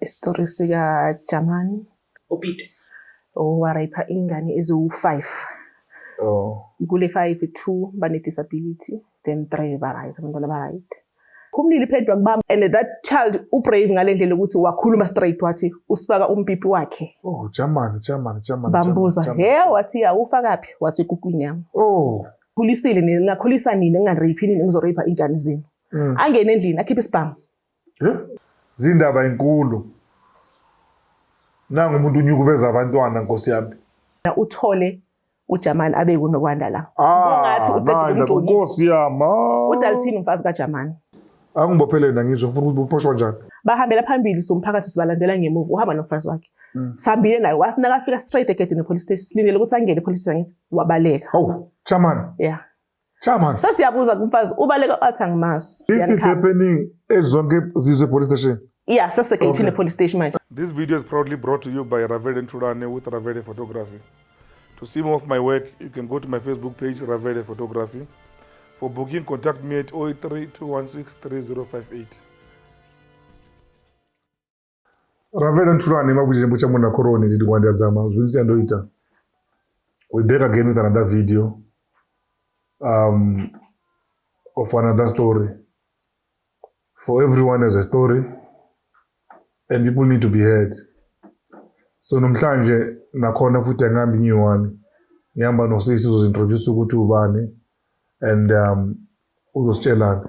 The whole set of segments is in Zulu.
isitori sikajamani upeter owarayipha ingane eziwu-five oh. kule five two bane-disability then three ba-right abantwana ba-right phumlile iphendwa kubami and that child ubrave ngale ndlela ukuthi wakhuluma straight wathi usifaka umpipi wakhe oh jamani jamani jamani bambuza he wathi ya ufakaphi wathi kukwini yami oh khulisile nina ningakhulisa nina ningareyiphi nina ngizoreyipha iy'ngane zenu mm. angene endlini akhiphe isibhamu zindaba inkulu nangu umuntu unyukubeza abantwana nkosi yami uthole ujamani abe kunokwanda la kungathi ah, ucedeumnkosi yami ah. udalithini umfazi kajamani angibophele na ngizwe ngifuna ukuthi buphoshwa njani bahambela phambili somphakathi sibalandela ngemuva uhamba nomfazi wakhe Mm. sambile naye wasinaka afika straight egedini epolice station silindele ukuthi angene epolice station ngithi wabaleka oh chairman yeah chairman sasiyabuza kumfazi ubaleka athi angimazi this is happening ezonke zizwe police station yeah sesegeyithini okay. epolice station manje this video is proudly brought to you by Ravele Nturane with Ravele Photography to see more of my work you can go to my Facebook page Ravele Photography for booking contact me at 083 216 3058 Rafael Ntulani makuchirembo chamuna koroni ndidi kwandiadzama zvinisi yandoita we back again with another video um, of another story for everyone has a story and people need to be heard so namhlanje nakhona futhi angihambi new one ngihamba nosisi uzozintroduce ukuthi ubani and um, uzositshelani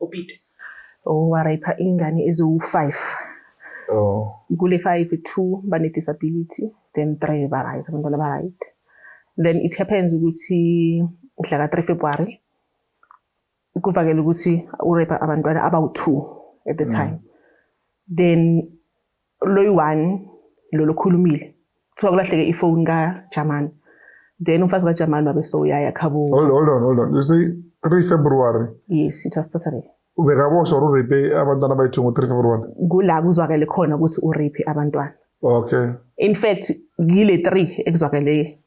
uPeter owarayipha oh, ingane eziwu-five oh. kule five two bane-disability then three ba-right abantwana ba-right then it happens ukuthi mhla ka-three february kuvakele ukuthi urepa abantwana abawu-two at the mm. time mm. then loyi-one lo lokhulumile kuthiwa kulahleke ifoni kajamani then umfazi kajamani wabe sowuyaya khabo hold on hold on you say 3 february yes it was saturday ubekaboshwa ururape abantwana abayi-two ngo-three february kula kuzwakele khona ukuthi urape abantwana okay in fact yile three ekuzwakele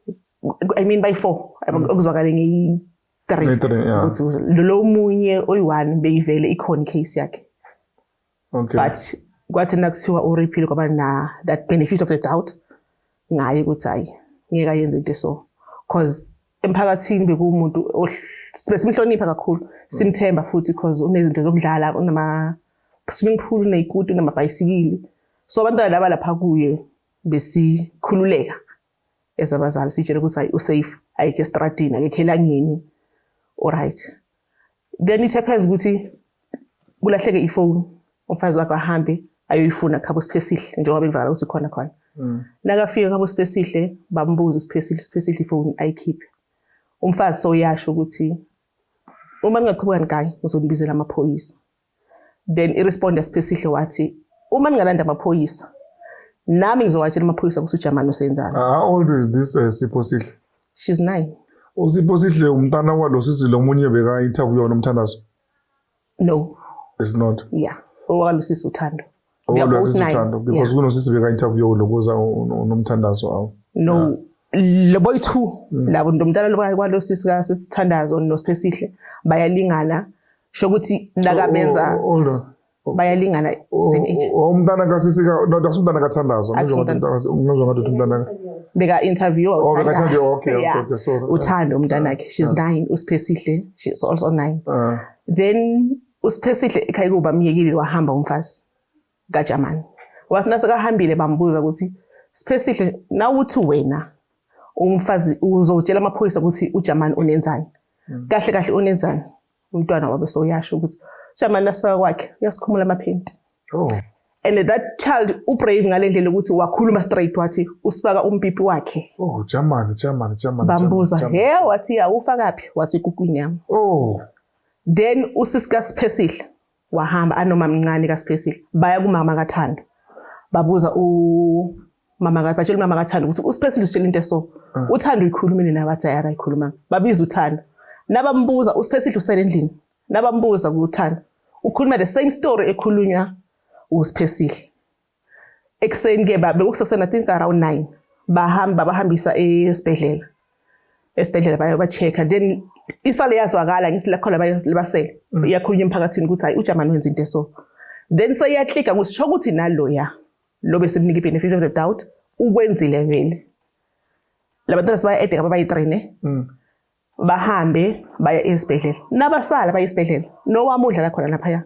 i mean by four mm. okuzwakale ngeyi three ukuthi lo munye oyi-one beyivele ikhona i-case yakhe okay. but kwathi nakuthiwa uriphile kwaba na that benefit of the doubt ngaye ukuthi hayi ngeke ayenze into so cause emphakathini bekuwumuntu sibe simhlonipha kakhulu simthemba futhi cause unezinto zokudlala unama swimming pool uneyikuti unamabhayisikili so abantwana laba lapha kuye besikhululeka as abazali sitshele ukuthi hayi usafe ayikho estradini akekho elangeni alright then it happens ukuthi kulahleke ifoni umfazi wakho ahambe ayoyifuna khabo siphesihle njengoba bevakala ukuthi khona khona mm. nakafika khabo siphesihle bambuza siphesihle siphesihle ifoni ayikhiphe umfazi soyasho ukuthi uma ningaqhubekani kanye ngizonibizela amaphoyisa then iresponde siphesihle wathi uma ningalanda amaphoyisa nami ngizowatshela amaphoyisa ukuthi ujamani usenzani ah, how old is this uh, sipho sihle she's nine usipho sihle umntana walo sisi lo munye beka interview wona umthandazo no it's not yeah owalo sisi uthando Kodwa sisithando because kunosisi beka interview lokuza unomthandazo awu. No. Le boy two mm. labo ntomntana lo kwalo sisi ka sisithandazo noSiphesihle bayalingana sho ukuthi ndakabenza. Oh, oh, oh, bayalingana same age umntana kasisi ka no dakuthi umntana kathandazo ngizwa ngathi ngizwa ngathi umntana beka interview oh beka interview okay okay okay sorry uthando umntana wakhe she's 9 usiphesihle she's also 9 ah. then uSiphesihle ekhaya kuba myekile wahamba umfazi kaJamani wathi nasekahambile bambuza ukuthi Siphesihle nawuthi wena umfazi uzotshela amaphoyisa ukuthi uJamani unenzani hmm. kahle kahle unenzani umntwana wabe soyasho ukuthi Jamani nasifaka kwakhe uyasikhumula amaphenti oh and that child ubrave ngalendlela ukuthi wakhuluma straight wathi usifaka umpipi wakhe oh Jamani Jamani Jamani bambuza he wathi awufakaphi wathi kukwini yami oh then usisi kaSiphesihle wahamba anomamncane kaSiphesihle baya kumama kaThando babuza u mama kathi batshela umama kaThando ukuthi uSiphesihle utshela into eso ah. uThando uyikhulumile naye wathi ayara ikhuluma babiza uThando nabambuza uSiphesihle usele endlini nabambuza kuThando ukhuluma the same story ekhulunywa uSiphesihle ekuseni ke bekusekuseni i think around nine bahamba babahambisa esibhedlela esibhedlela baye ba-check-a then isale yazwakala ngithi lakhona basele mm. iyakhulunywa emphakathini ukuthi hayi ujamani wenza into eso then seyaklika ukuthi sho ukuthi naloya lo besimnika i-benefit of the doubt ukwenzile vele labantwana sibayi-ede ngababayi-three ne mm. bahambe baya esibhedlela nabasala baya esibhedlela nowami udlala khona laphaya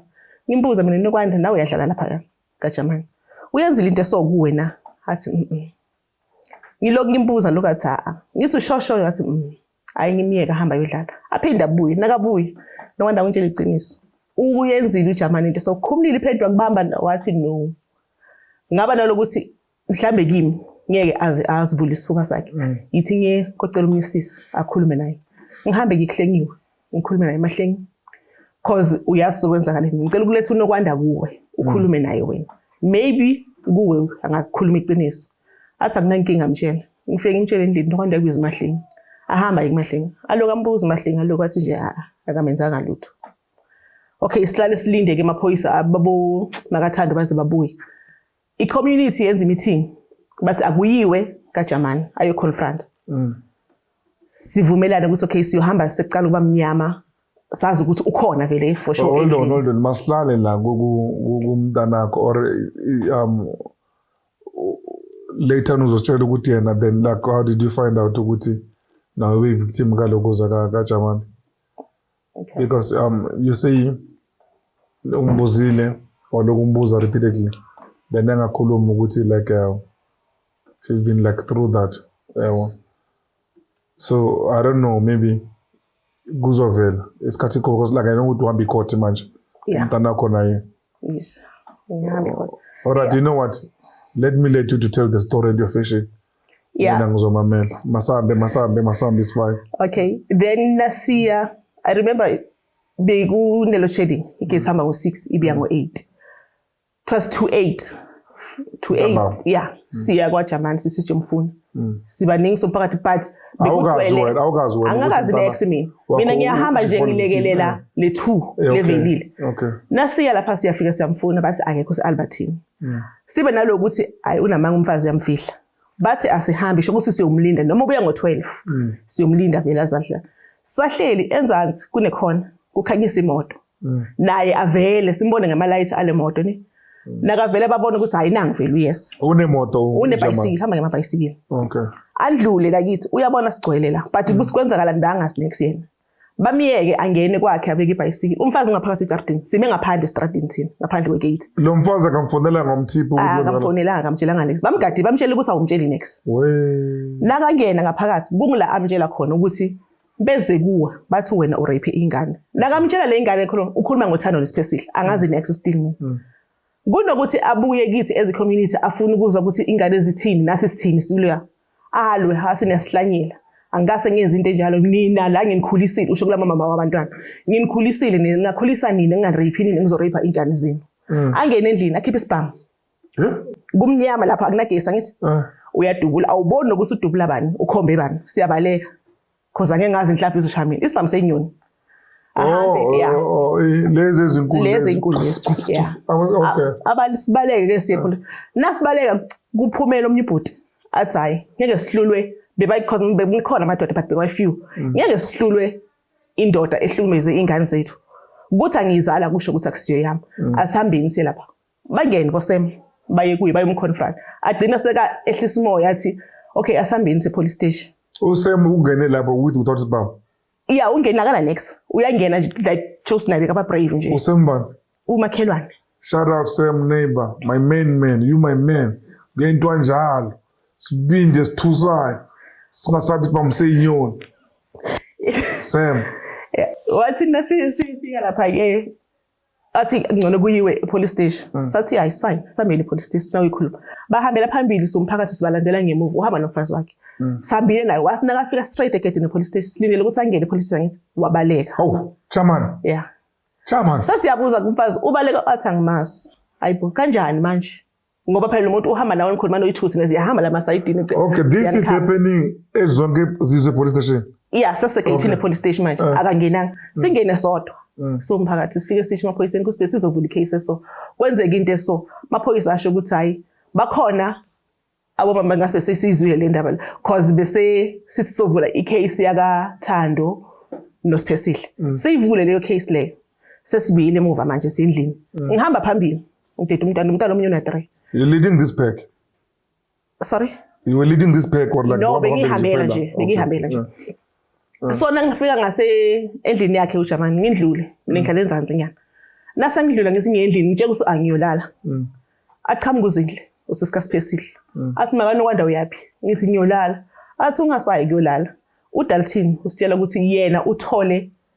ngimbuza mina nokwanda nawe uyadlala laphaya kajamani uyenzile into esokuwe na athi mm, mm. ngilokhu ngimbuza lokhu athi a ngithi ushoshoyo athi mm. hayi ngimyeka hamba yodlala aphinde abuye nakabuye nokwanda ngitshela iqiniso ukuyenzile ujamani into sokhumulile iphendwa kubamba wathi no ngaba nalokuthi mhlambe kimi ngeke aze azivule isifuba sakhe mm. yithi ngiye kocela omunye usisi akhulume naye ngihambe ngikuhlengiwe ngikhulume naye mahlengi cause uyazi sokwenza ngale ngicela ukuletha unokwanda kuwe ukhulume naye wena maybe kuwe angakukhuluma iqiniso athi akunankinga mtshela ngifike ngimtshele endlini nokwanda kuyiza umahlengi ahamba yimahlengi aloku ambuza umahlengi aloku athi nje a akamenzanga lutho okay sihlale silinde ke amaphoyisa ababo makathando baze babuye I community yenza i meeting but akuyiwe ka Jamani ayo confront. Mm. Sivumelana ukuthi okay siyohamba sekuqala ukuba mnyama sazi ukuthi ukhona vele for sure. Hold on, hold on. Masihlale la kumntanakho or um later on uzositshela ukuthi yena then like how did you find out ukuthi nawe uyi-victim kaloko zakajaman okay. because um you say umbuzile walokhu umbuza repeatedly then engakhulumi ukuthi like uh, she's been like through that yabo so i don't know maybe kuzovela isikhathi kho because like i know ukuthi uhamba icourt manje umntana wakho naye yes ngihamba icourt all right yeah. you know what let me let you to tell the story and your fishing yeah. mina ngizomamela masambe masambe masambe isifayo okay then nasiya i remember bekunelo shading igesi hamba ngo-six ibiya ngo-eight it was two eight two eight yeah mm. siya kwajamani sisi siyomfuna mm. sibaningi somphakathi but angakazi nex mina mina ngiyahamba nje ngilekelela le two levelile nasiya lapha siyafika siyamfuna bathi akekho se-albertini mm. sibe nalokuthi hayi unamanga umfazi uyamfihla bathi asihambi sho ukuthi siyomlinda noma ubuya ngo-12 mm. siyomlinda vele azadla sahleli enzansi kunekhona kukhanyisa imoto mm. naye avele simbone ngamalayithi ale moto ni mm. nakavele babona ukuthi hayi nangu vele uyes unemoto unebhayisikile hamba ngemabhayisikile okay andlule lakithi uyabona sigcwele la but ukuthi kwenzakala ndanga sinex yena bamyeke angene kwakhe abeke ibhayisikili umfazi ungaphakathi ejardini sime ngaphandle estradini thina ngaphandle kwegate lo mfazi akamfonelanga umthipho ukuthi kwenzeka akamfonelanga akamtshelanga next bamgadi bamtshela ukuthi awumtsheli next we nakangena ngaphakathi kungula amtshela khona ukuthi beze kuwa bathi wena urape ingane nakamtshela le ingane khona ukhuluma ngothando nesiphesile angazi next still mina mm. Kunokuthi abuye kithi as community afune ukuzwa ukuthi ingane zithini nasi sithini siluya. Alwe hasi niyasihlanyela. Angikase ngenze into enjalo nina la nginikhulisile usho kula mama wabantwana. Nginikhulisile nina ngakhulisa nina ngingarape nina ngizorape ingane zenu. Mm. Angene endlini akhiphe isibhamu. Kumnyama lapha akunagesi angithi. Ah. Uyadubula awuboni nokuthi udubula bani ukhombe bani siyabaleka. Cause angeke ngazi inhlaphi izosha mina. Isibhamu senyoni. Ahambe oh, yeah. Oh, oh, eh, lezi ezinkulu. Lezi ezinkulu. Yeah. Okay. Abalibaleke ke siye phela. Nasibaleka kuphumela omnye ubhuti. Athi hayi ngeke sihlulwe bebayi because bekukhona amadoda but bekwayi few. Mm. Ngeke sihlulwe indoda ehlukumeze ingane zethu. Kuthi angiyizala kusho ukuthi akusiyo yami. Mm. Asihambeni siye lapha. bangene kosem baye kuye bayomconfront agcina seka ehlisa umoya athi okay asambeni se police station usem ungene lapho with without sibaba yeah ungena kana next uyangena like just nabe kaba brave nje usembani umakhelwane shout out sam neighbor my main man you my man kuyento kanjalo sibinde sithusayo singasabi siba mseyinyoni sam wathi nasi sifika lapha ke athi ngcono kuyiwe epolice station mm. sathi hayi fine sambele epolice station sakuyikhuluma bahambela phambili somphakathi sibalandela ngemuva uhamba nomfazi wakhe mm. sambile naye wasina kafika straight egedini epolice station silindele ukuthi angene epolice station ngithi wabaleka oh chaman yeah chaman sasiyabuza kumfazi ubaleka athi angimazi hayibo kanjani manje ngoba phela lomuntu uhamba nawe nikhuluma noyithusi nezi yahamba la masayidini gcina okay this is happening ezonke zizwe police station yeah sesegeyithini okay. police station manje uh, akangenanga mm. singene sodwa mm. so mphakathi sifike sisho amaphoyiseni kusibhe sizovula icase so kwenzeka into eso maphoyisa asho ukuthi hayi bakhona abomama ngasibe sesizwile le ndaba cause bese sithi sovula icase yaka Thando noSiphesihle mm. seyivule leyo case leyo sesibiyile emuva manje sendlini mm. ngihamba phambili Udidi umntana umntana omunye una 3. You leading this pack? Sorry? You were leading this pack or like No, bengihambela nje, bengihambela nje. So nangifika ngase endlini yakhe uJamani ngindlule, mina ngihlala enzansi nyana. Nase ngidlula ngesinye endlini ngitshela ukuthi angiyolala. Mm. Aqhamuka uzindle usisika siphesile. Mm. Athi makani kwanda uyaphi? Ngithi ngiyolala. Athi ungasayi kuyolala. UDalton usitshela ukuthi yena uthole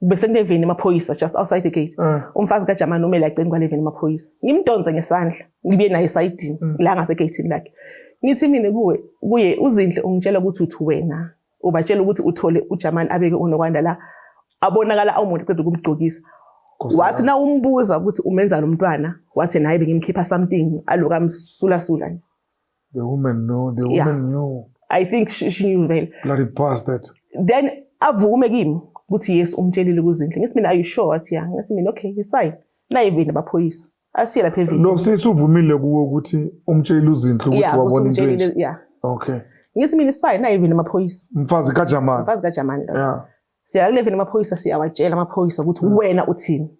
bese kuneveni emaphoyisa just outside the gate mm. umfazi kajamani umele agcini kwaleveni emaphoyisa ngimdonse ngesandla ngibuye naye esayidini mm. la ngasegeyithini lakhe ngithi mina kuwe kuye uzinhle ungitshela ukuthi uthi wena ubatshela ukuthi uthole ujamani abeke unokwanda la abonakala awumuntu qeda ukumgqokisa wathi na umbuza ukuthi umenza lo mntwana wathi naye bengimkhipha something aloku amsulasula nje The woman know, the woman yeah. knew. I think she, she knew vele. Bloody bastard. Then avume kimi ukuthi yes umtshelile kuzinhle. Ngithi mina are you sure wathi yeah. Ngathi mina okay it's fine. Naye vini abaphoyisa. Asiye lapha evini. Lo sisi uvumile kuwe ukuthi umtshelile uzinhle ukuthi wabona into enje. Yeah. Okay. Ngithi mina it's fine naye vini amaphoyisa. Mfazi kaJamani. Mfazi kaJamani. Yeah. Siya ku-11 amaphoyisa siyawatshela amaphoyisa ukuthi hmm. wena uthini.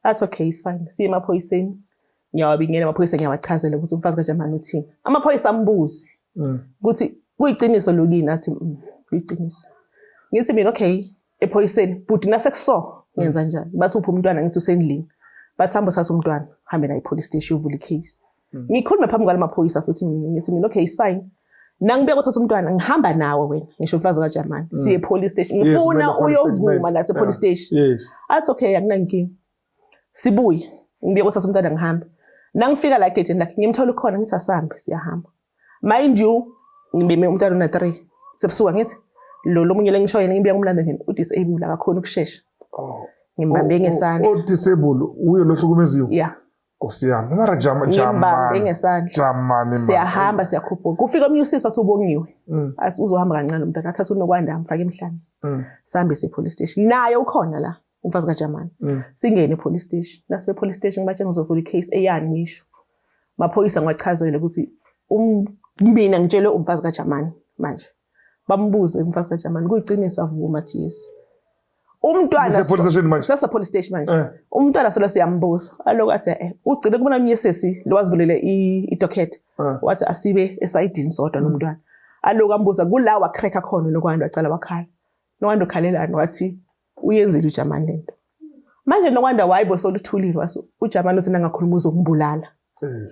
That's okay, it's fine. Siya emaphoyiseni. Ngiyawabingela amaphoyisa ngiyawachazela ukuthi umfazi kaJamani uthini. Amaphoyisa ambuze hmm. ukuthi kuyiqiniso lokini athi mm, kuyiqiniso. Ngithi mina okay ephoyiseni bhuti nasekuso ngenza njani? Bathi uphi umntwana ngithi usendlini. Bathi hamba uthatha umntwana hambe naye police station uvule icase. Hmm. Ngikhulume phambi kwala maphoyisa futhi mina ngithi mina okay it's fine. Nangibuya kothatha umntwana ngihamba nawe wena ngisho umfazi kaJamani hmm. siye police station ngifuna yes, uyovuma la se police station. Yes. Athi okay akunankinga. Sibuye ngibuya kothatha umntwana ngihamba. Nangifika la gate lakhe ngimthola ukhona ngithi asambe siyahamba. Mind you ngibeme umntwana una 3 sebusuka ngithi lo lomunye lengisho yena ngibuya kumlanda nini u disable akakhona ukushesha. Oh. Ngimbambe ngesandla. O disable uyo lohlukumeziwe. Yeah. Nkosi yami, mara jama jamani. ngesandla. Jamani mara. Siyahamba siyakhuphuka. Kufika omunye usisi wathi ubongiwe. Mm. Athi uzohamba kancane umntana athatha unokwanda amfake emhlane. Mm. Sambe se police station. Naye ukhona la umfazi kaJamani. Mm. Singene police station. Nase police station bathe ngizovula icase eyani ngisho. Maphoyisa ngiwachazele ukuthi um ngibina ngitshelwe umfazi kaJamani manje. bambuze umfazi kaJamani kuyiqiniso avuma athi yes umntwana sasa police station manje eh. umntwana solo siyambuza aloku athi eh ugcine kubona omnye sesi lowazivulele idocket eh. wathi asibe esayidini sodwa mm. nomntwana aloku ambuza kula wa crack khona lokwantu wacela wakhala nokwanda ukhalelani wathi uyenzile uJamani lento manje nokwanda wayibo soluthulile wathi uJamani usina ngakhuluma uzokumbulala eh.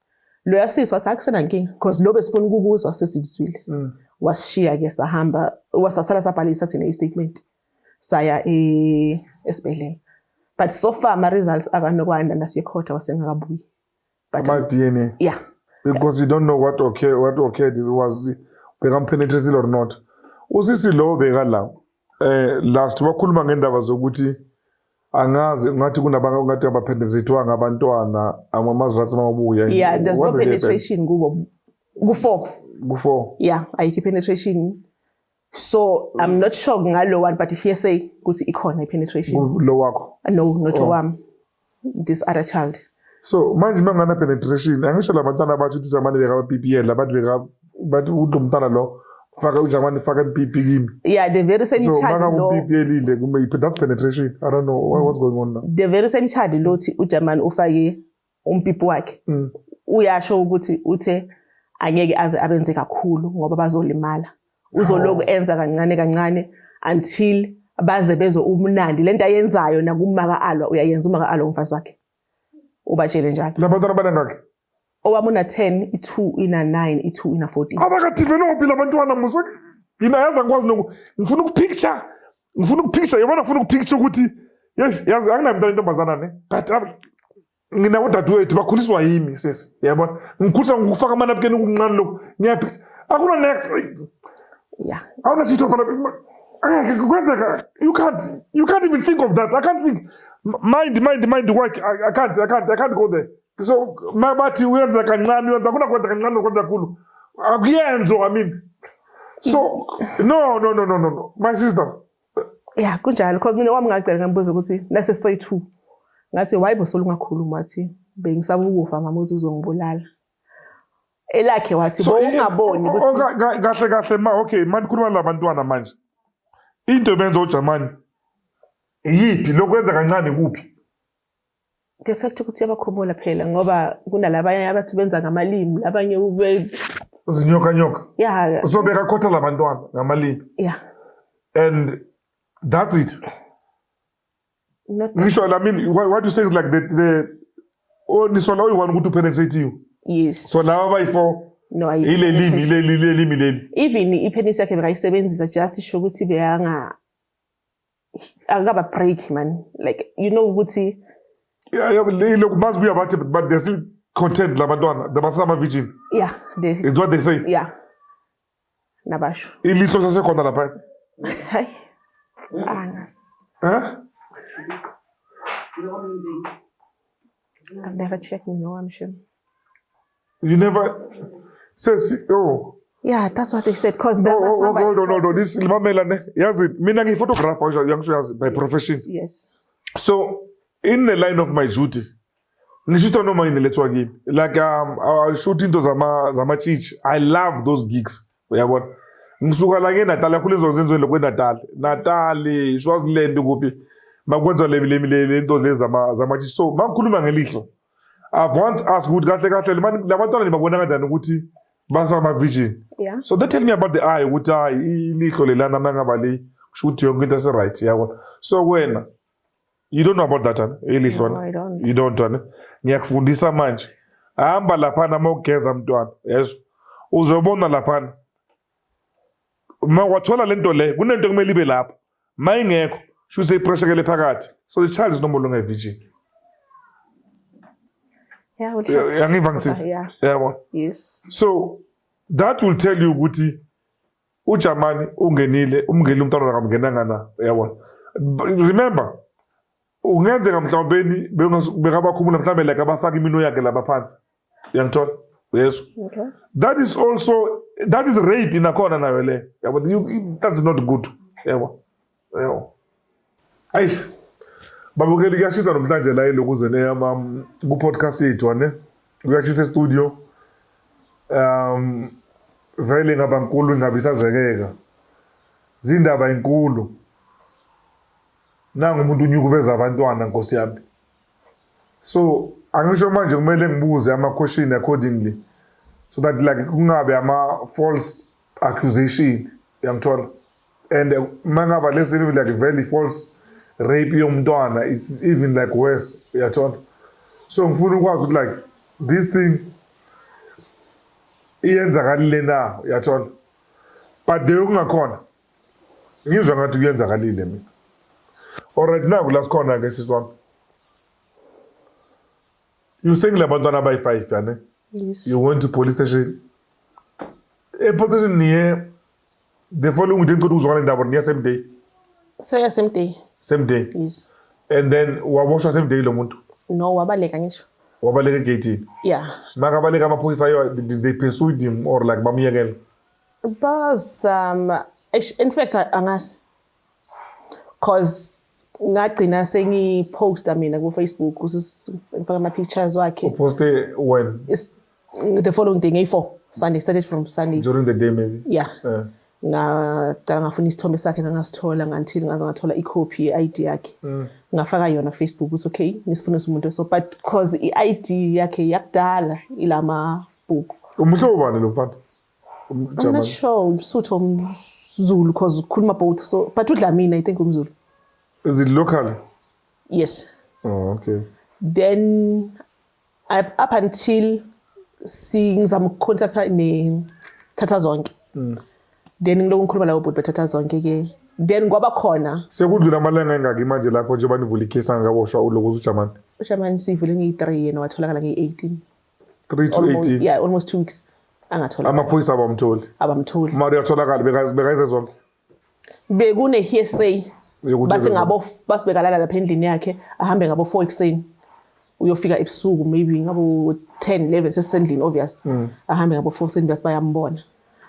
loya sisi wathi akusena nkinga because lo besifuna ukukuzwa sesikuzwile mm. wasishiya ke sahamba wasasala sabhalisa thina i-statement saya e, esibhedlela but so far ama-results akanokwanda nasekhotha wasengakabuyi ama-dna yeah because you don't know what okay what okay this was bekampenetresile or not usisi lowo bekala eh last wakhuluma ngendaba zokuthi angazi ungathi kunabanye ongathi abapenetrathiwanga abantwana amamazwe athi mawabuya yeah there's no penetration kubo ku-four ku-four yeah ayikho i-penetration so i'm not sure ngalo one but here say ukuthi ikhona i-penetration lo wakho no not oh. owami this other child so manje uma ngana penetration angisho la bantwana abathi uthi zamane beka BPL labantu beka bathi uthi umntana lo faka ujamani faka ipipi kimi yeah the very same so, child lo ipipi elile kume iphi that's penetration i don't know what, what's going on now the very same child lo uthi ujamani ufake umpipi wakhe mm. uyasho ukuthi uthe angeke aze abenze kakhulu ngoba bazolimala uzoloku enza kancane kancane until baze bezwe ubumnandi lento ayenzayo nakumaka alwa uyayenza umaka alwa umfazi wakhe ubatshele njalo labantwana banengakhe owami una 10 i2 ina 9 i2 ina 14 abakadevelophi labantwana musa yina yazi angikwazi noku ngifuna ukupicture ngifuna ukupicture yabona ngifuna ukupicture ukuthi yes yazi anginamntana intombazana ne but ngina udadewethu bakhuliswa yimi sesi yabona ngikhulisa ngikufaka amanabukeni kunqani lokhu ngiyaphi akuna next yeah awuna chitho phana angeke kwenzeka you can't you can't even think of that i can't think mind mind mind work i, I can't i can't i can't go there so bathi uyenza kancane uyenza akuna kwenza kancane nokwenza kakhulu akuyenzo i mean so no no no no no my sister ya kunjalo cause mina wami ngagcela ngambuza ukuthi nase soy two ngathi why bosola ungakhulumi wathi bengisaba ukufa mama uthi uzongibulala elakhe wathi So, i- bowungaboni o- o- ukuthi ka- ka- kahle kahle ma okay manje khuluma labantwana manje into ebenza ojamani yiphi lokwenza kancane kuphi the fact ukuthi uyabakhumula phela ngoba kunalabanye abathi benza ngamalimi labanye ube zinyoka nyoka yeah usobeka khotha labantwana ngamalimi yeah and that's it ngisho la mini what you say is like the the oh nisola oyi-one ukuthi upenetrathiwe yes so laba bayi-four no ile limi ile lile limi leli even ipenis yakhe bekayisebenzisa just isho ukuthi beyanga akaba break man like you know ukuthi yeah yeah look must be about it but they're still content labantwana they must ama virgin yeah they, it's what they say yeah nabasho ilihlo lisasekhona lapha hayi angas huh I've never checked in no amshini You never says oh Yeah, that's what they said because no, oh, oh, no, no, no, no, this mamela ne yazi mina ngi photographer yangisho yazi by profession. Yes. So in the line of my duty ngishuta noma yini lethwa kimi like um, I shoot into zama zama church. I love those gigs uyabona ngisuka la ngeNatal yakhula izo zenzweni lokwe Natal Natal Swaziland kuphi makwenza le le le nto lezi zama zama church. so mangikhuluma ngelihlo I've once asked ukuthi kahle kahle labantwana nibabona kanjani ukuthi basama virgin. Yeah. So they tell me about the eye ukuthi hayi ilihlo lelana mangaba le kusho ukuthi yonke into ese right yabona. So wena you don't know about that ana ilihlo no, I don't. You don't ana. Ngiyakufundisa manje. Hamba lapha nama ugeza mntwana. Yezwa. Uzobona lapha uma wathola lento le kunento kumele ibe lapho uma ingekho shuthi ipressure kele phakathi so the child is no more longer a virgin yeah well yangiva ngithini yeah yabo yes so that will tell you ukuthi uJamani ungenile umngeni umntwana wakamngenanga na yabona remember ungenzeka mhlawumbe bekabakhumula mhlawumbe like abafaka imino yakhe lapha phansi uyangithola uyezwa okay. that is also that is rape inakhona nayo le yabo that is not good yabo yabo ayish babukeli kuyashisa namhlanje la iloku ze neyama um, ku podcast yethu ane kuyashisa studio um vele ngaba nkulu ngabe isazekeka zindaba inkulu nangu umuntu unyukubeza abantwana nkosi yami So angisho manje kumele ngibuze ama question accordingly so that like kungabe ama false accusation yangithola and uh, mangaba lesi even like very false rape yomntwana it's even like worse uyathola so ngifuna ukwazi ukuthi like this thing iyenzakalile na uyathola but there kungakhona Ngizwa ngathi kuyenzakalile mina. Alright naku la sikhona ke sisi wami. You saying labantwana abayi 5 yane? Yes. You went to police station. E police station niye the following day ngicela ukuzwana indaba niya same day. So yeah same day. Same day. Yes. And then waboshwa same day lo muntu. No wabaleka ngisho. Wabaleka egate. Yeah. Makabaleka amaphoyisa yo they pursued him or like bamyekela. Bazama eish in fact angazi cause ngagcina sengiposta mina ku Facebook ngifaka ama pictures wakhe uposte when It's, the following day ngeyi-4 Sunday started from Sunday during the day maybe yeah uh. ngaqala ngafuna isithombe sakhe ngangasithola ngantil ngaze ngathola i-copy ye-id yakhe mm. ngafaka yona facebook ukuthi okay ngisifuna umuntu so but cause i-id yakhe yakudala ilama bhuku umuhlobo bani lo mfana I'm not sure umsuthu omzulu cause ukhuluma both so but udlamini i think umzulu is it local yes oh okay then I, up until singizama ukucontacta ne thatha zonke mm. then ngiloko ngikhuluma lawo bhuti bathatha zonke ke then kwaba khona sekudlula amalanga engaki manje lapho njengoba nivula ikhesi angakaboshwa ulokuza ujamani ujamani siyivule ngeyi-three yena watholakala ngeyi-eighteen 3 to 18 yeah almost 2 weeks angathola amaphoyisa abamtholi abamtholi mara uyatholakala bekayize zonke bekune hearsay bathi ngabo basibekalala lapha endlini yakhe ahambe ngabo 4 ekseni uyofika ebusuku maybe ngabo 10 11 sesendlini obvious mm. ahambe ngabo 4 ekseni bese bayambona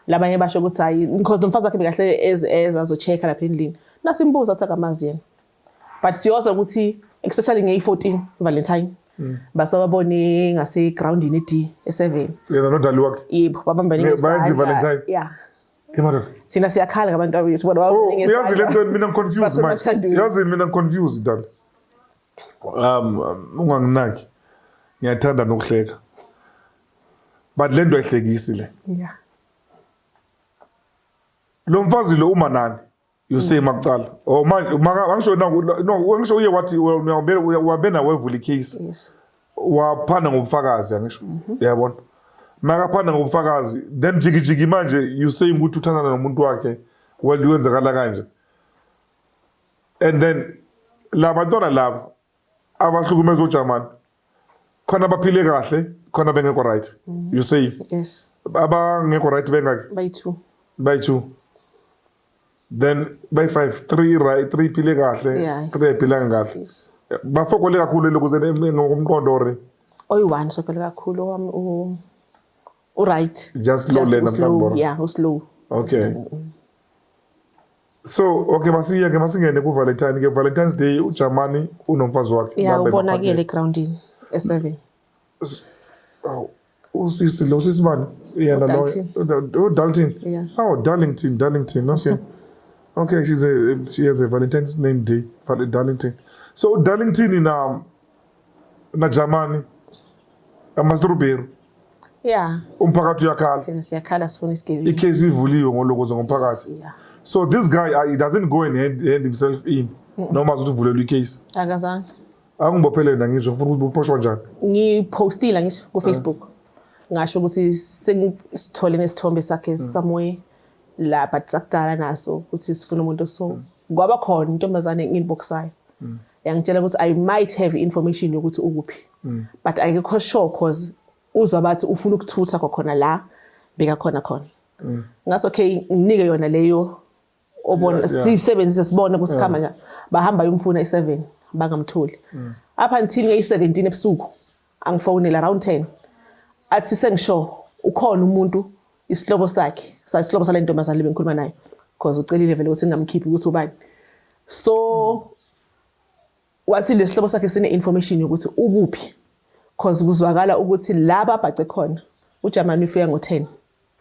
labanye basho ukuthi hayi because nomfazi wakhe bekahle eze azochecka lapha endlini nasimbuza athi akamazi yena but siyoza ukuthi especially ngeyi-14 valentine mm. basi bababone ngasegroundini ed e-seven yena nodali wakhe yebo babambanebayenza ivalentine ya thina siyakhala ngabantu abethu oh, yazi le nto mina ngiconfuse manje yazi mina ngiconfuse dala um, um unganginaki ngiyathanda nokuhleka but le nto ayihlekisi le lo mfazi lo uma nani you see makucala oh manje angisho no angisho uye wathi uhambe nawe evula icase waphana ngobufakazi angisho mhm. yabona makaphana ngobufakazi then jikijiki manje you saying ukuthi uthandana nomuntu wakhe well kwenzakala kanje and then labantwana laba abahlukumeza ojamani khona abaphile kahle khona bengekho right mm-hmm. you say yes abangekho right bengaki by two by two then by five three right three phile kahle three ayiphilanga kahle bafokole kakhulu lokhu zene ngokomqondo ore oyi-one sokele kakhulu owami u-right just low lena mhlawumbe yeah uslow okay mm -hmm. so okay masiye ke masingene ku valentine ke valentine's day ujamani unomfazi wakhe ya ubonakele egroundini e7 aw usisi lo sisi bani yena lo udalton aw darlington darlington okay okay she's a she has a valentine's name day for darlington so udarlington na najamani amasirubheru yeah umphakathi uyakhala thina siyakhala sifuna isigebengu ikhesi ivuliwe ngolokoza ngomphakathi yeah so this guy uh, he doesn't go and hand, hand himself in noma azothi uvulelwe ikhesi akazange angibophelele nangisho ngifuna ukuthi uphoshwa njani ngipostile ngisho ku Facebook uh. ngasho ukuthi sengithole nesithombe sakhe mm. somewhere la but sakudala naso ukuthi sifuna umuntu so mm. kwaba khona intombazane ngiliboksayo mm. yangitshela ukuthi i might have information yokuthi ukuphi mm. but ayikho sure cause uzwa bathi ufuna ukuthutha kwakhona la beka khona khona mm. ngathi okay nginike yona leyo obona yeah, yeah. sisebenzise sibone kusikhama yeah. bahamba yomfuna i7 bangamtholi mm. up until ngeyi17 ebusuku angifonele around 10 athi sengisho ukhona umuntu isihloko sakhe sasihloko sale ntombazane lebe ngikhuluma nayo because ucelile vele ukuthi ngingamkhiphi ukuthi ubani so wathi lesihlobo sakhe sine information yokuthi ukuphi because kuzwakala ukuthi laba abhace khona uJamani ufika ngo10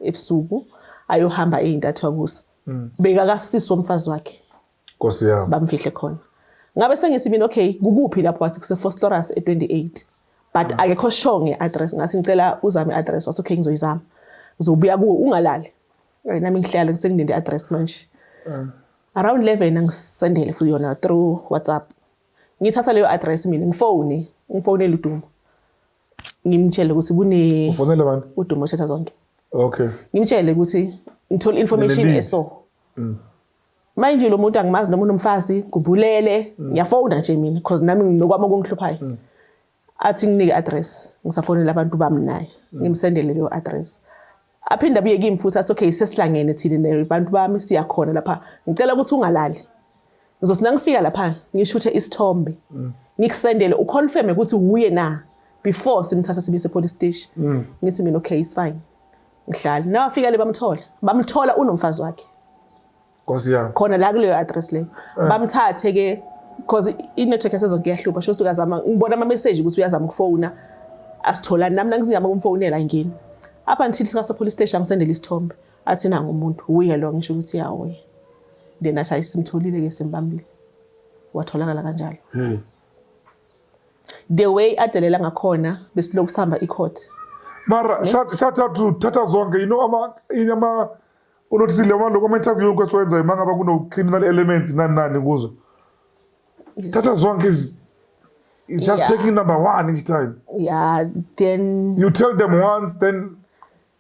ebusuku ayohamba ezintathu akusa mm. bekakasisi womfazi wakhe Nkosi yami. Bamfihle khona. Ngabe sengithi mina okay kukuphi lapho wathi kuse Fosterus e28. But mm. akekho sure ngeaddress ngathi ngicela uzame address wathi okay ngizoyizama. Ngizobuya kuwe ungalali. Eh, nami ngihlala sengilinde address manje. Mm. Around 11 angisendele futhi yona through WhatsApp. Ngithatha leyo address mina ngifone, ngifonele uDumo. Ngimtshele ukuthi kune Ufonele bani? uDumo Chetha zonke. Okay. Ngimtshele ukuthi ngithola information eso. Mm. Mind you lo muntu angimazi noma unomfazi ngubulele mm. ngiyafona nje mina because nami nginokwami okungihluphayo. Mm. Athi nginike address ngisafonela abantu bami naye mm. ngimsendele leyo address. Aphinde abuye kimi futhi athi okay sesilangene thina nabantu bami siyakhona lapha ngicela ukuthi ungalali. Ngizothi nangifika lapha ngishuthe isithombe. Mm. ngikusendele uconfirme ukuthi wuye na before simthatha sibise police station mm. ngithi mina okay it's fine Mdlali. Nawe afikele bamthola. Bamthola unomfazi wakhe. Nkosi yami. Khona la kuleyo address leyo. Eh. Bamthathe ke because i-network yasezonke iyahlupha sho suka zama ngibona ama message ukuthi uyazama ukufona asitholani nami nangizingama kumfonela ngini up until sika sa police station ngisendele isithombe athi nanga umuntu uye lo ngisho ukuthi yawo then athi ayisimtholile ke simbambile watholakala kanjalo hmm. The way adelela ngakhona besilokhu sihamba icourt. Mara shathathu thatha zonke you know ama inyama unothile uma lokho ama interview kwesiwenza uma ngaba kuno criminal elements nani nani kuzo. Thatha zonke is is just yeah. taking number 1 each time. Yeah, then you tell them once then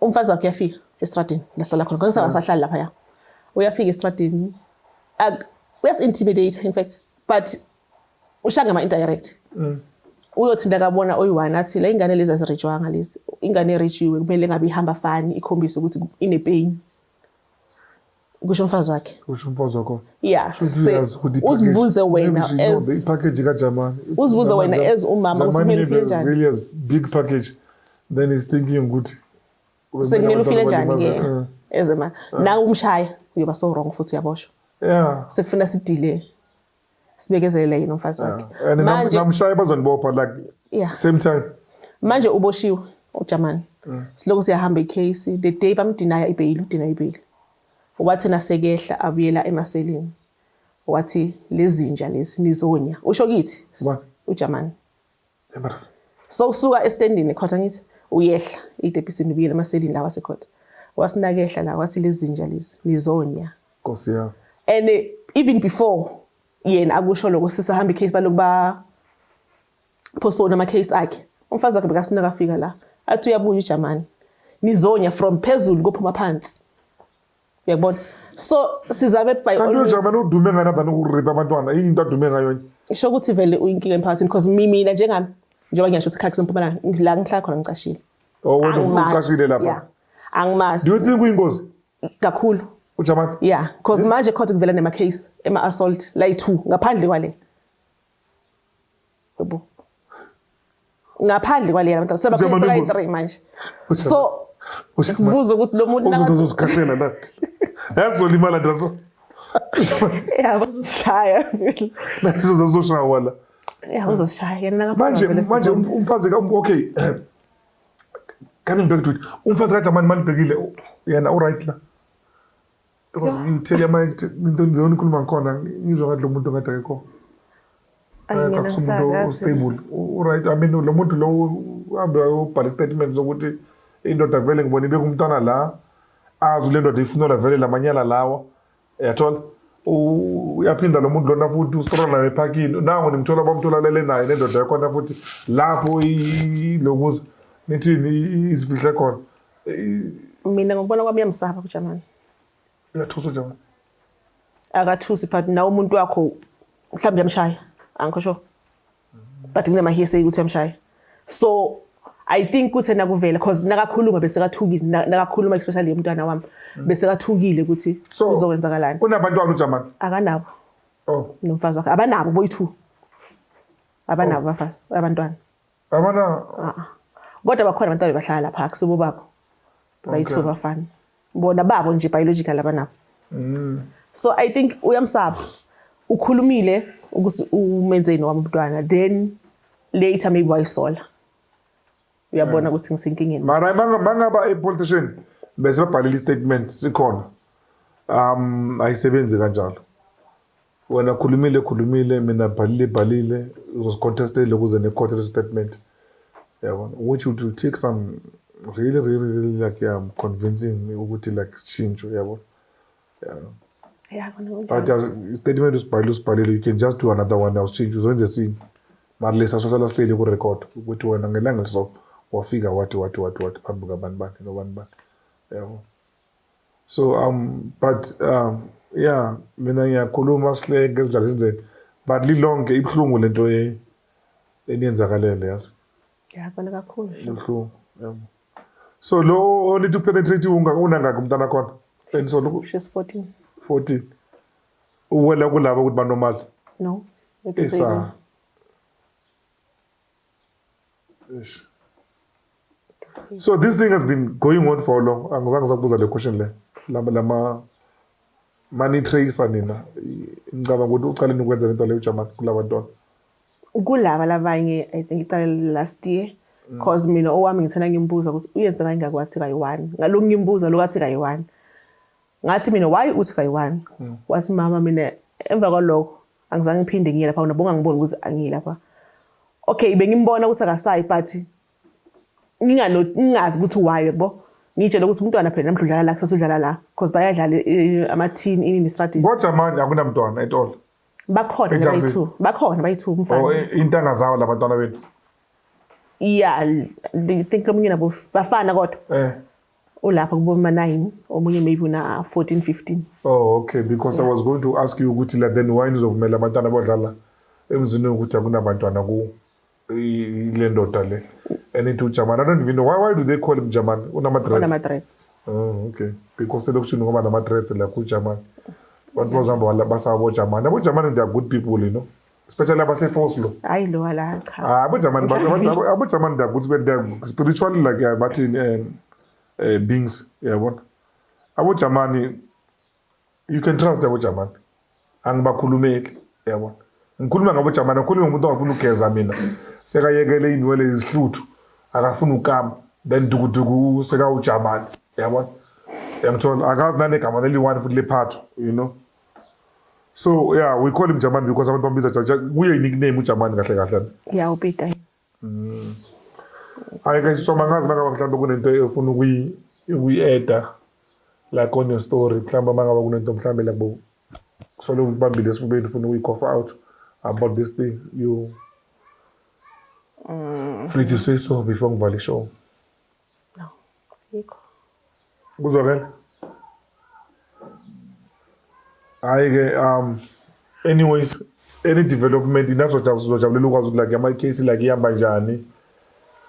umfazi wakhe uyafika estradini lahlala khona ngoba sasahlali lapha ya uyafika estradini uyasi-intimidate in fact but ushanga ama-indirect mm. uyothinda kabona oyi-one athi la ingane lezi azirijwanga lezi ingane erijiwe kumele ngabe ihamba fani ikhombise ukuthi inepeyini kusho umfazi wakhe kusho umfazi wakho yeah uzibuze wena as ipackage kaJamani uzibuze wena as umama usimele ufike njani really as big package then is thinking ukuthi usekumele ufile njani ke uh. ezema uh. nawe umshaya uyoba so wrong futhi uyaboshwa yeah sekufuna sidile sibekezelele yena umfazi wakhe and nam- manje namshaya bazonibopha like Yeah. same time manje uboshiwe uJamani Mm. silokhu siyahamba icase the day bamdinaya ibheyili udinaya ibheyili wathi nasekehla abuyela emaselini wathi lezinja lezi nizonya usho kithi Ubani? uJamani so usuka estendini ekhotha ngithi uyehla itepisini ubuyele emaselini lawa sekhotha wasinakehla la wathi lezinja lezi nizonya nkosi yami and eh, even before yena akusho lokho sisahamba icase balokuba postpone ama case akhe umfazi wakhe bekasina kafika la athi uyabuya ujamani nizonya from phezulu kophuma phansi uyabona so sizame by kanti uJamani udume ngani abani ukuripa abantwana yini into adume ngayo nje isho ukuthi vele uyinkinga emphakathini because mina njengami njengoba ngiyasho ukuthi khakhe sempumalanga la ngihlala khona ngicashile oh wena ucashile lapha angimazi do you think uyingozi kakhulu uJamani yeah because manje khona kuvela nema case ema assault like two ngaphandle kwale Yebo. Ngaphandle kwalena abantu sebakhulisa kayi 3 manje. So ubuza ukuthi lo muntu nakathi uzozikhahlela nathi. Yazolimala ndazo. Yabo uzishaya. Nathi uzozoshaya wala. Yabo uzishaya yena ngapha. Manje manje um, umfazi ka um, okay. Coming back to it. Umfazi ka Jamani malibhekile yena u right la. because you tell your mind into nje onikhuluma ngikhona ngizwa ngathi lo muntu ngathi akekho akusumuntu ostable right i mean lo muntu lo uhambe ubhale statement zokuthi indoda vele ngibona ibeka umntwana la azi le ndoda ifunela vele la manyala lawa yathola uyaphinda lo muntu lona futhi ustrola nayo ephakini nango nimthola bamtholalele naye nendoda yakhona futhi lapho lo muzi nithini izifihle khona mina ngokubona kwami uyamsaba uJamani uyathusa uJamani akathusi but nawe umuntu wakho mhlawumbe uyamshaya angikho sure but kunamahearsay ukuthi uyamshaya so I think kuthi nakuvela because nakakhuluma bese kathukile nakakhuluma especially umntwana wami mm. bese kathukile ukuthi uzokwenzakalani unabantwana uJamani akanabo oh nomfazi wakhe abanabo boy two abanabo abafazi abantwana Yabona Ah, ah. kodwa bakhona abantu abebahlala lapha akusibo babo bayithiwe Okay. bafana bona babo nje biological abanabo Mm. so i think uyamsaba ukhulumile ukuthi umenzeni wami umntwana then later maybe wayisola uyabona ukuthi ngisenkingeni mara banga- bangaba epolitician bese babhalela istatement sikhona um ayisebenzi kanjalo Wena khulumile khulumile mina bhalile bhalile uzosicontestela ukuze nekhothe lesi statement yabona which would you take some really really really like um convincing me ukuthi like sishintsho yabona yeah but as statement usibhalile usibhalile you can just do another one now sishintshe uzwenze esinye mara lesa sohlala sihleli kurecord ukuthi wena ngelanga liso wafika wathi wathi wathi wathi phambi kabani bani nobani bani yabo so um but um ya mina ngiyakhuluma sihleke ngezindaba zenzeni but lilonke ibuhlungu lento ye eniyenzakalele yazi ngiyabona kakhulu ibuhlungu yabo so lo onithi upenetrate unga unangaka umntana khona enisona she's 14 14 uwela kulabo ukuthi banomali no isa So this thing has been going on for long. Angizange sakubuza le question le. Lama lama mani tracer nina. Ngicabanga ukuthi uqale nokwenza lento leyo Jamani kulabantwana. Kulaba labanye I think iqale last year. Mm. Cause mina owami ngithena ngimbuza ukuthi uyenza kanye ngakwathi kayi-1. Ngalokhu ngimbuza lokwathi kayi-1. Ngathi mina why uthi kayi-1? Mm. Wathi mama mina emva kwalokho Angizange ngiphinde ngiye lapha nabo ngangibona ukuthi angiyi lapha. Okay bengimbona ukuthi akasayi but ngingano ngingazi ukuthi why yebo. Ngitshela ukuthi umntwana phela namhlanje udlala la kusasa udlala la because bayadlala eh, ama team ini ne strategy. Kodwa manje akunamntwana etolo. Bakhona Exactly. bayi-two. Bakhona bayi-two umfana. Or i- intanga zawo labantwana benu. Yeah, I think lomunye nabo bafana kodwa. Eh. Ulapha kuboma 9 omunye maybe una 14 15. Oh okay because yeah. I was going to ask you ukuthi la then why nizovumela abantwana abadlala emzini ukuthi akunabantwana ku le ndoda le and into uJamani. I don't even know why why do they call him Jamani? Unama dreads. Unama dreads. Oh okay because elokishini ngoba nama dreads la ku Jamani. Abantu bazihamba basabo Jamani. Abo Jamani they are good people you know. especially abasefoslo hayi lo wala cha ah, abujamani basho abujamani da ukuthi benda spiritual like eh, bathini eh, eh beings yabona abujamani you can trust abujamani angibakhulumeli yabona ngikhuluma ngabujamani ngikhuluma ngomuntu ongafuna ukugeza mina sekayekele inwele izihluthu akafuna ukama then dukuduku sekawujamani yabona yangithola akazi nanegama leli-one futhi lephatho you know So yeah, we call him Jamani because abantu bambiza Jamani. Kuye i-nickname uJamani kahle kahle. Yeah, upita yena. Mm. Hayi guys, so mangazi mangaba mhlawumbe kunento efuna ukuyi ukuyi-eda like on your story mhlawumbe mangaba kunento mhlawumbe like bo kusole ubambile esifubeni ufuna ukuyi-cough out about this thing you mm. free to say so before ngivale ishow No, yikho. Kuzwakala? Hayi ke um anyways any development inazojabu sizojabulela ukwazi ukuthi like ama case like ihamba njani.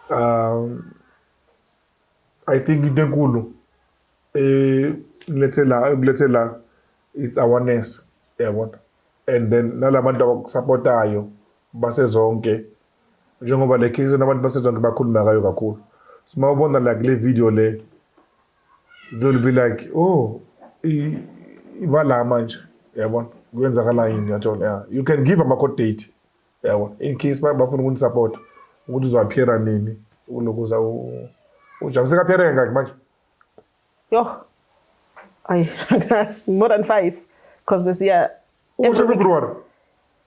Um I think into enkulu eh lethe la lethe la it's awareness yabona and then nalabantu abakusupportayo basezonke njengoba le case nabantu basezonke bakhuluma ngayo kakhulu so uma ubona like le video le they'll be like oh ibala manje yabona kwenzakala yini yathola yeah. you can give ama-court date yabona in case bafuna ukunisupport ukuthi uzoaphiera nini ulokuza ujam sekaphiere ngaki manje yoh ayi more than five because besiya usho february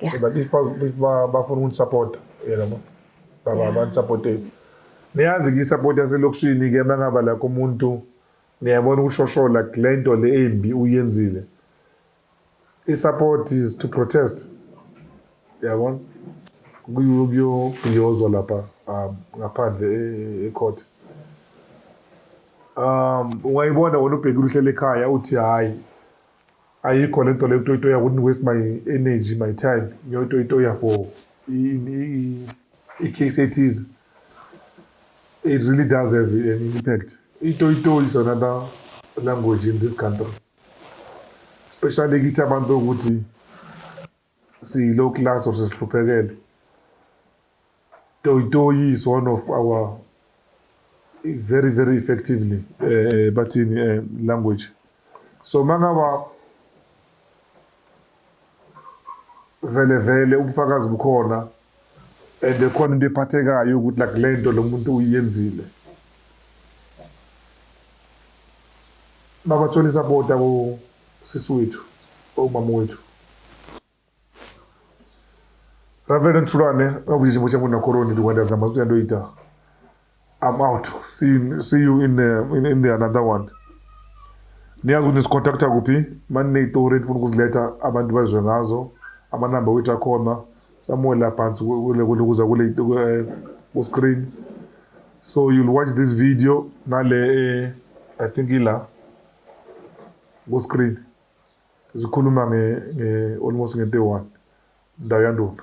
Yeah. So but if bafuna unisapota yalabo baba banisapoteni niyazi ke isupport yaselokishini ke mangaba lakho umuntu niyabona ukushoshola kule nto le embi uyenzile isupport is to protest yabona kuyobhiyozwa lapha um, ngaphandle e-, ecourt um ungayibona wena ubhekile uhlele ekhaya uthi hhayi Ayikho le nto le kutoyitoya wouldn't waste my energy my time ngiyoyitoyitoya for i-case ethize it really does have an impact itoyitoyi is another language in this country especially kithi abantu ukuthi Silo class or sihluphekele. Toy Toy is one of our very very effectively uh, bathini uh, language. So mangaba vele vele ubufakazi bukhona and khona into ephathekayo ukuthi like le nto lo muntu uyenzile mabathole isapota kusisi wethu omama wethu Reverend Thulane ngavuyishe muthe ngona koroni ndikwenza zama uyandoyita I'm out. See you, see you in the in, in the another one. Niyazi ukuthi nisikhontacta kuphi? Manineyitori enifuna ukuziletha abantu bazwe ngazo. Amanamba wethu akhona. Somewhere la phansi kule kule kuza kule eh, ku screen. So you'll watch this video nale eh, I think ila ku screen. Zikhuluma nge, nge almost nge 31. Ndawo yandona.